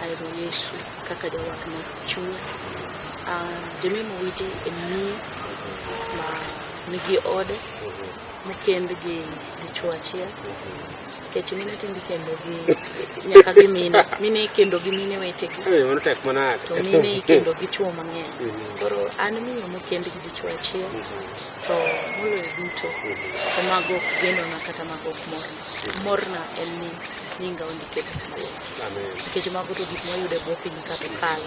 Ahero Yesu kaka jawar ma chuny. Ah, Jemimo witi e miyo ma nigi ode mokend gi dichwo achiel nikech mine tinde ikendo gi nyaka gi mine mine ikendo gi mine wetegi Eh, mano tek manade. to mine ikendo gi chwo mang'eny Mhm. koro an miyo mokend gi dichwo achiel to moloyo duto to mago ok genona kata mago ok morna morna en ni nyinga ondike piny maler nikech mago to gik mwayudo e bwo piny ka to kalo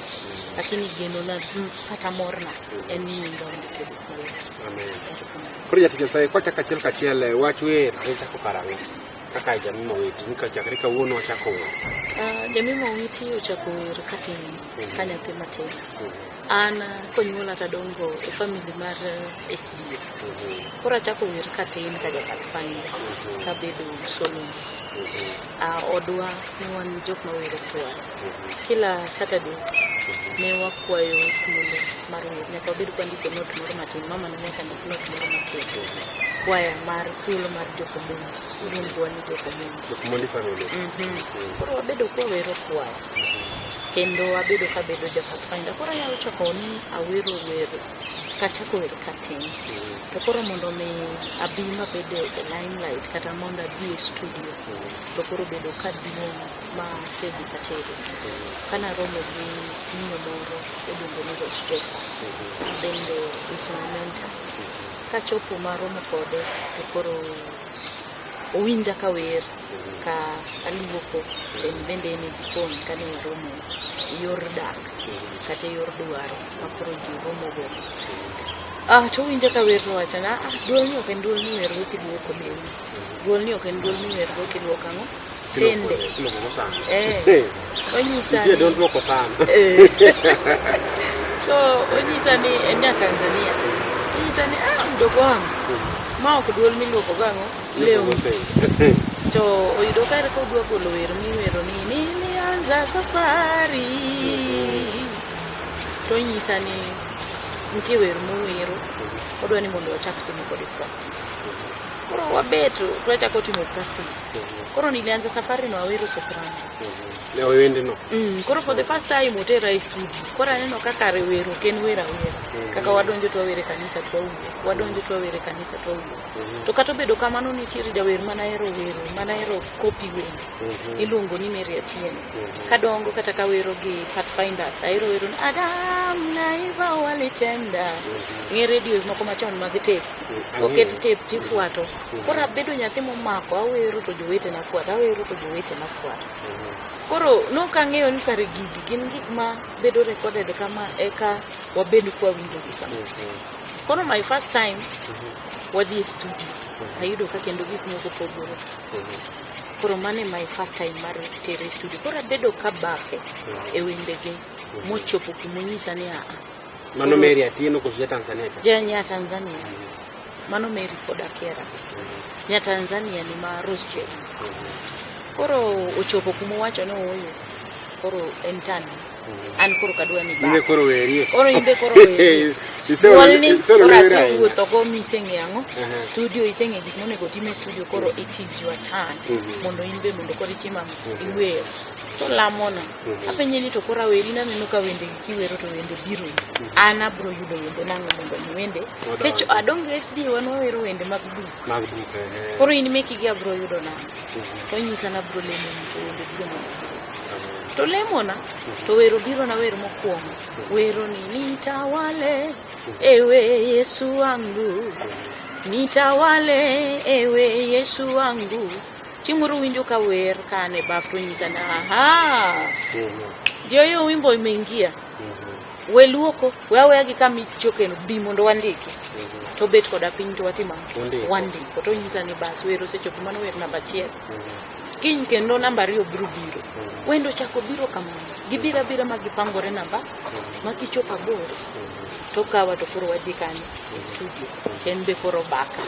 lakini genona mm, kata morna en ni nyinga ondike piny maler Koro jatich Nyasaye kwachako achiel kachiel eh, wach wer ne chako karang'o kaka jamii maweti nika chakre kawuono wachako wer. Ah, jamii mawiti ochako wer katin ka nyathi matin An konyuola tadongo e family mar eh, SDA. Koro achako wer katin ka jakat family kabedo soloist. Ah, odwa ne wan jok ma wero kwaya. Kila Saturday ne wakwayo thuolo mar wer. Nyaka wabed kwandiko note moro matin. Mama ne nyaka ndik note moro matin. Kwaya mar thuolo mar jokomonji. Iluongowa ni jokomonji. Jokomondi family. Mhm. Koro wabedo kwawero kwaya. kendo abedo ka bedo japathfinder koro anyalo chako ni awero wer kachako wer katin to koro mondo mi abi mabed e limelight kata mondo abi e studio to koro bedo ka duong' ma asedhi katero kana romo gi miyo moro iluongo ni Rosh Jeffa bende is my mentor kachopo maromo kode to koro Owinja ka wer ka aluoko en bende en e jikon kane waromo e yor dak kata e yor dwaro ma koro ji romogo. Ah, to owinja ka wer to wacho na, ah, duolni ok en duol miwergo kiluoko lewni. Duolni ok en duol miwergo kiluoko ang'o? sende Kiloko sana. Eh. Eh, onyisa Nitie ni- don't loko sana. Eh. so onyisa ni en nya tanzania onyisa ni ah, mdogo wangu ma ok duol miluoko gang'o leo to oyudo kare ka odwa golo wer miwero ni nilianza safari to onyisa ni nitie wer mowero odwa ni mondo wachak timo kode practice Koro wabet to wachako timo practice. Koro nilianza safari na Waweru Soprano. Ne wendino. Mm, koro for the first time otera e studio. Koro aneno kaka rewero ok en wer awera. Kaka wadonjo to wawere kanisa to wawuo. Wadonjo to wawere kanisa to wawuo. To kata obedo kamano nitiere jawer mana hero wero, mana hero copy wende. Iluongo ni Mary Atieno. Kadongo kata kawero gi Pathfinders, ahero wero ni Adam na Eva walitenda. Ng'e radios moko machon mag tape. oket tep tifuato koro abedo nyathi momako awero to jowetena fuato awero to jowetena fuato koro nok ang'eyo ni kare gigi gin gik ma bedo recorded kama eka wabed kwawinjogi kama koro my first time wadhi e studio ayudo ka kendo gik moko pogore koro mano e my first time mar tere e studio koro abedo kabake e wendege mochopo kumonyisa ni aa Mano Mary Atieno koso ja Tanzania ka? Ja nya Tanzania. Mano Mary pod akiera. Nya Tanzania ni ma Rose Chef. Koro ochopo kuma owacho ni ooyo. Koro en tani. An koro kadwa ni Mbe baba. koro werie. Koro in be koro werie. Iseolo- Duol ni iseolo koro wera ahinya. asewuotho go miseng'e ang'o. Mhm. Studio iseng'e gik monego tim e studio koro it is your turn. Mhm. Mondo in be mondo koro itim ang'o. Iwer. To lamono. apenje ni to koro aweri naneno ka wende gi kiwero to wende biro an abro yudo wende nang'o mondo mi wende kech adonge sd wan wawero wende mag buk mag buk eh, koro in meki gi abro yudo nang'o mhm, tonyisa na abro lemo ni to wende biro mondo mi amen. to lemona to wero biro na wer mokwongo wero ni nitawale ewe yesu wangu nitawale ewe yesu wangu Chieng' moro winjo ka wer ka an e baf to onyisa ni aha, joyo wimbo imeingia, we luoko, we aweya gi kama ichokeno, bi mondo wandiki. To obet koda piny to watimo ang'o? Undiko. Wandiko. To onyisa ni bas wer osechopo, mano wer namba achiel. Kiny kendo namba ariyo biro biro. Wendo chako biro kamano. Gibiro abira ma gipangore namba, ma kichopo aboro, to kawa to koro wadhi kanye? E studio. en be koro baka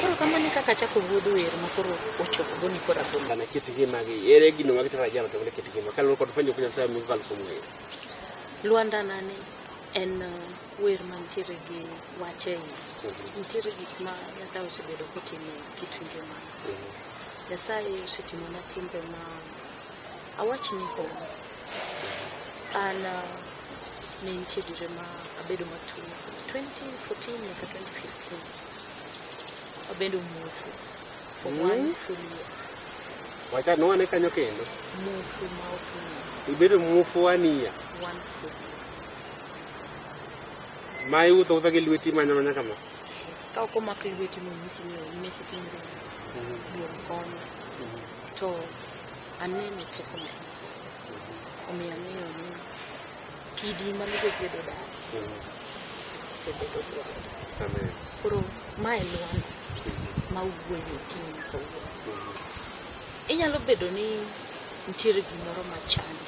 koro kamano kaka chako wuodh wer ma koro ochopo goni koro agoni Bana kit ngima gi. Ere gino ma kitara jalo to ne kit ngima. Kaluwore kod fwenyo kunya saa mukal kuom wer. lwanda nani en uh, wer mantiere gi wache iye Mhm, nitiere gik ma nyasaye osebedo kotimo e kit ngima mhm. nyasaye osetimona timbe ma Awachni hon, an uh, ne nitie dire ma abedo matuo 2014 nyaka 2015 abedo muofu for Mm. one full year Wacha nwane kanyo kendo. muofu ma ok ng'eyo Ibedo muofu wania. one full year Ma iwuotho wuotha gi lweti manya manya kama. ka ok omak lweti monyisi ni onyisi timri duong' konya to Aneno teko mar Nyasaye. Omiyo ang'eyo ni kidi mane jogwedo dala osebedo dwaro. Amen. Koro ma e lwanda ma wuoyo okinyi nyaka wuoyo. Inyalo bedo ni nitiere gimoro ma chandi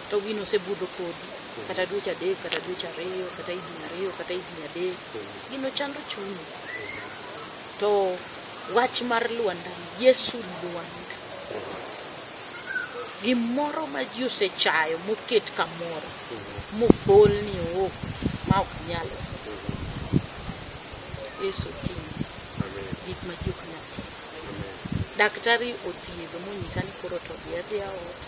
to gino osebudho kodi kata dweche adek kata dweche ariyo kata higni ariyo kata higni adek gino chando chunyi To wach mar Lwanda, Yesu Lwanda, gimoro ma ji osechayo moket kamoro, mobol ni ook ma ok nyal. Yesu oting'o gik ma ji ok nyal ting'o. Daktari othiedho monyisa ni koro to odhi adhiya ot,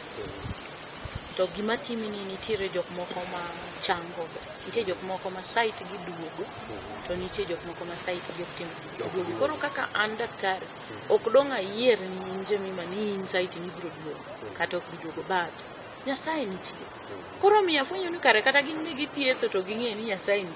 To gima timi ni nitiere jok moko ma chango, nitie jok moko ma site gi duogo, to nitie jok moko ma site gi ok tim duogo. Koro kaka an daktari, ok dong' ayier in Jemima ni in site ni ibiro duogo kata ok bi duogo but Nyasaye nitie. Koro omiyo afwenyo ni kare kata gin be githietho to ging'eyo ni Nyasaye nitie.